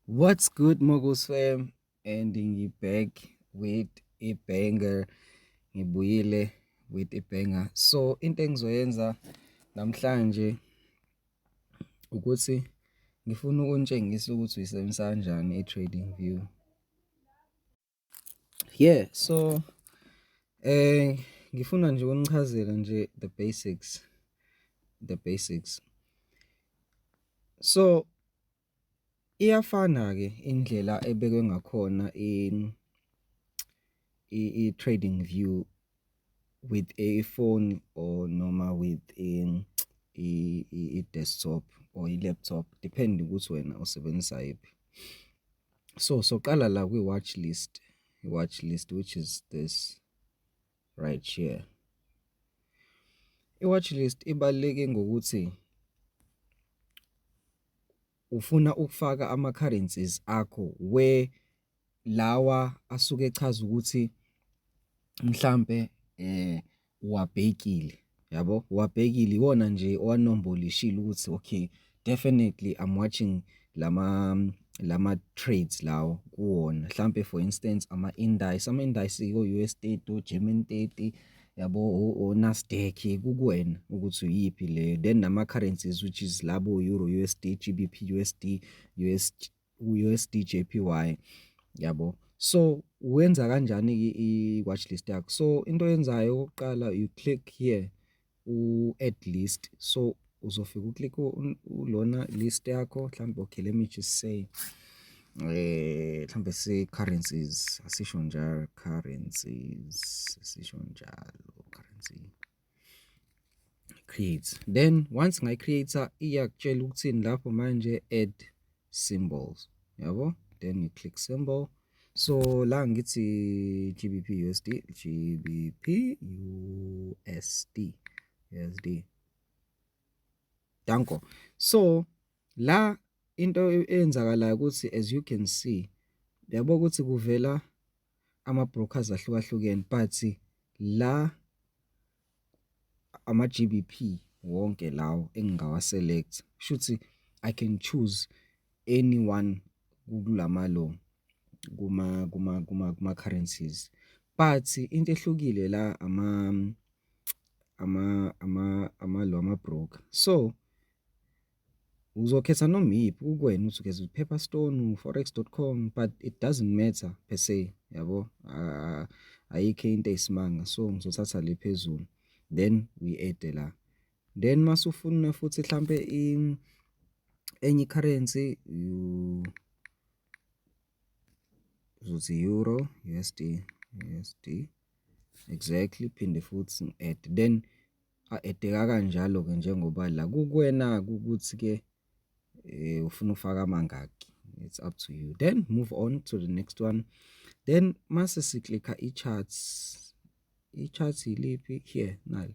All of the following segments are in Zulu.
What's good Mogus fam and ngi back with a banger ngibuyile with a banger so into engizoyenza namhlanje ukuthi ngifuna ukunitshengisa ukuthi uyisebenzisa kanjani i-trading view Yeah, so eh ngifuna nje unichazele nje the basics. The basics. So iyafana ke indlela ebekwe ngakhona in i trading view with a phone or noma with a i desktop or i laptop depend ukuthi wena usebenzisa yiphi. So soqala la kwi watch list, watch list which is this right here. I watch list ibaluleke ngokuthi ufuna ukufaka ama currencies akho where lawa asuke echaza ukuthi mhlampe eh uwabhekile yabo uwabhekile iwona nje owanombolishile ukuthi okay definitely I'm watching lama lama trades lawo kuwona mhlambe for instance ama indices ama indices ko US 30 o German 30 yabo oNasdaq kukuwena ukuthi uyiphi leyo then nama-currencies which is labo euro USD GBP USD US USD JPY yabo so wenza kanjani i-watch list yakho so into oyenzayo okokuqala you click here u-add list so uzofika uklike lona list yakho mhlawumbe okay let me just say eh mhlawumbe si currencies asisho njalo currencies asisho njalo currency create then once ngayi creator iyakutshela ukuthini lapho manje add symbols yabo then you click symbol so la ngithi gbp usd gbp usd usd Danko. So la into eyenzakalayo ukuthi as you can see yabo ukuthi kuvela ama brokers ahlukahlukene but la ama GBP wonke lawo engingawa select shuthi I can choose anyone kulama lo kuma kuma kuma kuma currencies but into ehlukile la ama ama ama ama lo ama broker so uzokhetha noma iphi ukwena uthi ukhetha paper stone forex.com but it doesn't matter per se yabo ah, ayikho into eyisimanga so ngizothatha le phezulu then we add la then masufuna futhi mhlambe enye currency you uzothi euro USD USD exactly phinde futhi ngi-add then a-edeka kanjalo-ke njengoba la kukuwena-ke ukuthi ke um ufuna ufaka amangaki it's up to you then move on to the next one then mase siklikha i-charts i-charts yiliphi here nali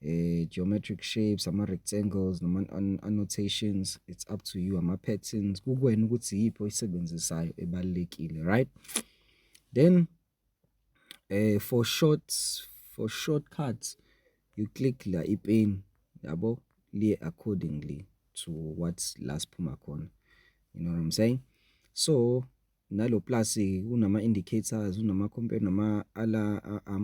eh geometric shapes ama rectangles noma annotations it's up to you ama patterns kukwena ukuthi yiphi oyisebenzisayo ebalekile right then eh for short for shortcuts you click la ipin yabo liye accordingly to what's la siphuma khona you know what i'm saying so nalo plus kunama indicators unama compare nama ala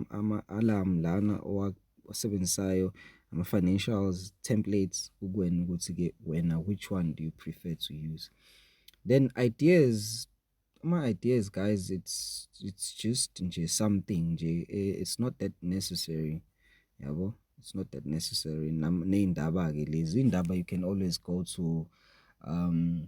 ama alarm lana owasebenzisayo ama financials templates ukwena ukuthi ke wena which one do you prefer to use then ideas ama ideas guys it's it's just nje something nje eh, it's not that necessary yabo it's not that necessary neindaba ke lezi indaba you can always go to um